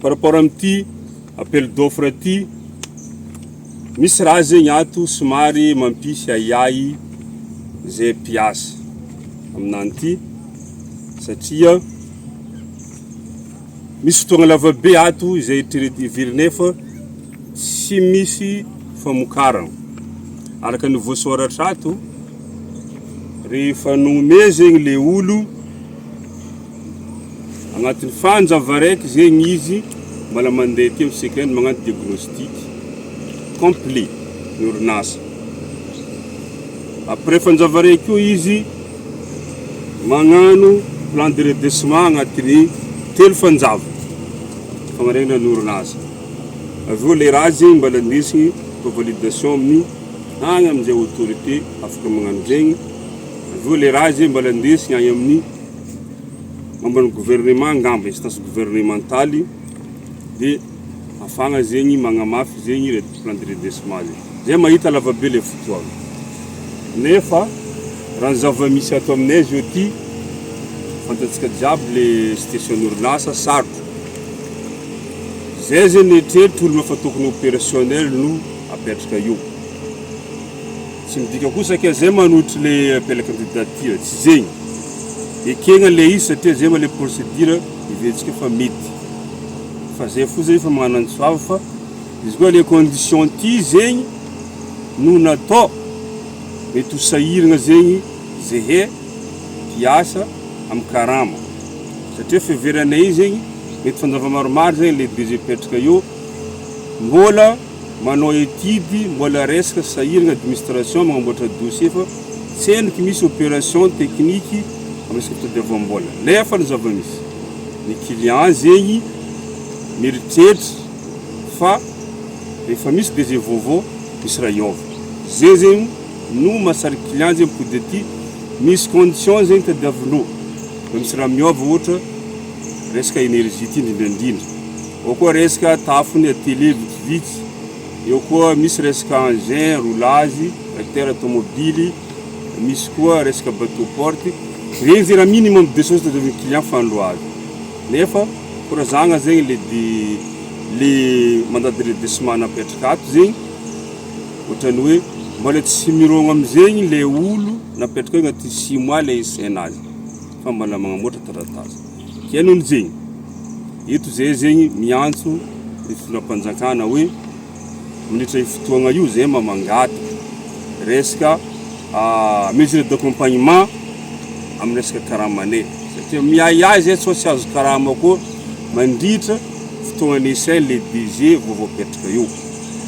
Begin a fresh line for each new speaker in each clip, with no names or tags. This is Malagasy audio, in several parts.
par rapport amin'ity appel d'offre ity, misy raha zegny ato somary mampisy ahiahy zay mpiasa aminany ity satria misy fotoagna lavabe ato izay eritrereto iviry nefa tsy misy famokarana. Araka ny voasoratra ato, rehefa nome zegny le olo, Agnatin'ny fanjava raiky zegny izy mbola mandeha teo isika any magnano diagnostic complet ny orinasa. Après fanjava raiky koa izy magnano plan de redressement agnatin'ny telo fanjava fagnaregna ny orinasa. Avy eo le raha zegny mbola ndesigny atao validation amin'ny agny amin'izay autorité afaka magnano zegny. Avy eo le raha zegny mbola ndesigny agny amin'ny. Momban'ny gouvernement angamba, instance gouvernementaly dia afagna zegny magnamafy zegny le plan de redressement le zay mahita lavabe le fotoagna nefa raha ny zava-misy ato aminay zao ty fantatsika jiaby le situation orinasa sarotra zay zegny eritreritro olona fa tokony opérationnel no apetraka eo Tsy midika kosa ke zay manotry le appel candidature, tsy zegny. Ekegna le izy satria zay ma le procédure heveritsika fa mety. Fa zay foza efa magnana antso avo fa izy koa le condition ty zegny no natao, mety ho sahiragna zegny zehe hiasa am karama satria fiheveranay zegny mety fanjava maromaro zegny le DG petraka eo mbola manao etude mbola resaka sahiragna administration magnamboatra dossier fa tsy henoko misy operation technique am resaka fitadiavambola nefa ny zavamisy ny client zegny mieritreritry fa rehefa misy DG vaovao misy raha hiova ze zegny no mahasarika client zegny mipody aty misy condition zegny tadiavinao fa misy raha miova ohatra resaka energie ty indrindraindrindra Eo koa resaka tafony aty lehy vitsivitsy, eo koa misy resaka engin, roulage, tracteur tomobily, misy koa resaka bateau porte. Renjy raha minimum deux choses tazon'ny client fanindro avy. Nefa korazagna zegny le de le mandat de redressement napetraka ato zegny ohatran'ny hoe mbola tsy mirogno am'zegny le olo napetraka eo agnatin'ny six mois le isaina azy fa mbola magnamboatra taratasy. Henony zegny, eto zay zegny miantso ny fitondram-panjakana hoe mandritra io fotoagna io zay mba mangataka resaka mesure d'accompagnement amin'ny resaka karamanay satria miahiahy zay sao tsy azo karama koa mandritra fotoagnan'ny essai le budget vao voapetraka eo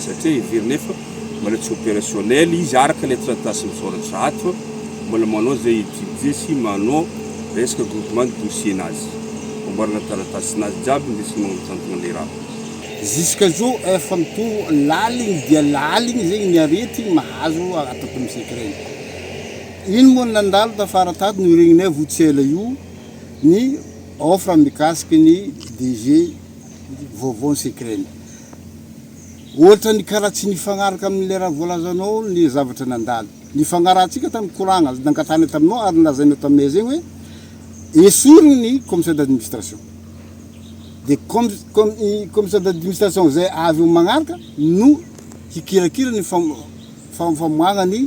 satria heverinay fa manao tsy opérationnel izy araka ilay taratasy misoratra ato, mbola manao izay etudier sy manao resaka groupement de dossier-nazy, amboarana taratasinazy jiaby ny resaka magnanontantogna an'ilay raha. Jusqu'à zao
efa mitombo laligny dia laligny zegny ny aretigny mahazo ato am secret. Ino moa ny nandalo tafara tato no regninay vao tsy ela io ny offre mikasiky ny DG vaovao ny secret. Ohatra ny karaha tsy nifagnaraka amin'ilay raha voalazanao ny zavatra nandalo. Nifagnarahantsika tamin'ny koragna nangatahana taminao ary nolazainao taminay izay hoe esory ny commissaire d'administration. Dia com, com, i commissaire d'administration izay avy eo magnaraka no hikirakira ny fam, fam, famoahagna ny.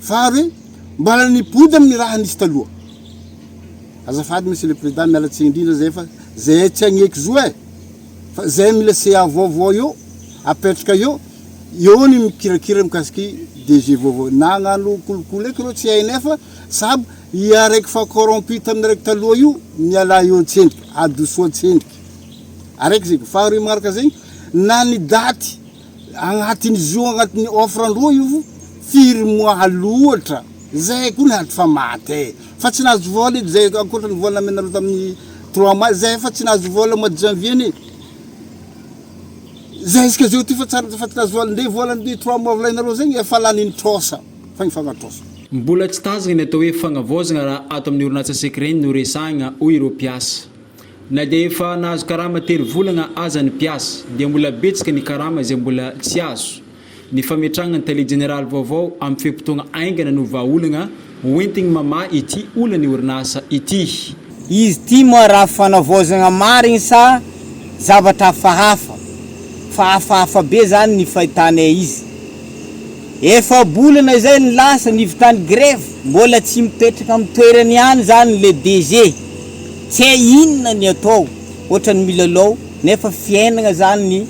Fa ary hoe mbala nibody amin'ny raha nisy taloha. Azafady monsieur le président miala tsiny indrindra zay fa zay tsy agneky zo eh fa zay mila CA vaovao eo apetraka eo eo ny mikirakira mikasiky DG vaovao nagnano kolikoly eky reo tsy hay nefa sab i araiky fa corrompu tamin'ny araiky taloha io miala eo tsendriky adosoa tsendriky araiky zegny faharoe magnaraka zegny na ny daty Agnatin'izy io agnatin'ny offre an-droa io firy mois aloatra zay koa niady fa maty e! fa tsy nahazo vol edy zay ankoatra ny vol namenareo tamin'ny trois mois zay efa tsy nahazo vol mois de janvier anie zay isika zao ty fa tsary efa tsy nahazo vol nde vol an'ny trois mois volainareo zegny efa lany nitrosa fa nifagnatrosa. Mbola tsy tazana
ny atao hoe fagnavaozagna raha ato amin'ny orinasa Secreny no resahagna, hoy ireo mpiasa. Na dia efa nahazo karama tery volana aza ny mpiasa, dia mbola betsaka ny karama izay mbola tsy azo. Ny fametrahana ny tale jeneraly vaovao amin'ny fe-potoagna haingana no vahaolagna hoentigny mamaha ity olan'ny orinasa ity. Izy ity moa
raha fanavaozagna marigny sa zavatra hafahafa? Fa hafahafa be zany ny fahitanay izy. Efa-bolana izay no lasa, nivitany grevy, mbola tsy mipetraka amin'ny toerany ihany izany ilay DG. Tsy hay inona ny atao, ohatran'ny milalao, nefa fiainana izany ny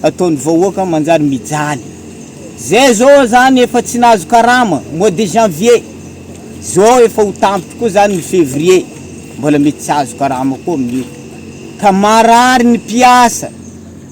ataon'ny vahoaka manjary mijaly. Izay izao izany efa tsy nahazo karama, mois de janvier, izao efa ho tampitra koa izany ny février, mbola mety tsy hahazo karama koa amin'io, ka marary ny mpiasa.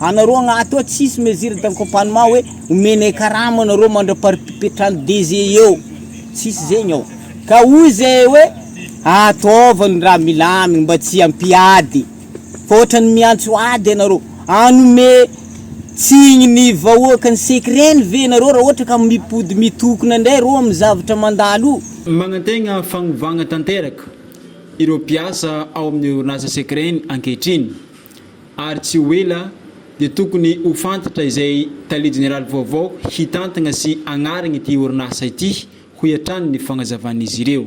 Anareo agnaty ao tsisy mesure d'accompagnement hoe omenay karama anareo mandra-paripipetrany DG eo, tsisy zegny ao. Ka hoy zay hoe ataovy ny raha milamigny mba tsy hampiady fa ohatrany miantso ady anareo. Hanome tsigny ny vahoaka ny secret-ny ve nareo raha ohatra ka mipody mitokona ndray reo amin'ny zavatra mandalo io? Magnantegna
fagnovagna tanteraka ireo mpiasa ao amin'ny orinasa secret-ny ankehitriny. ary tsy ho ela dia tokony ho fantatra izay tale jeneraly vaovao hitantagna sy hagnarigny ity orinasa ity, hoy hatrany ny fagnazavan'izy ireo.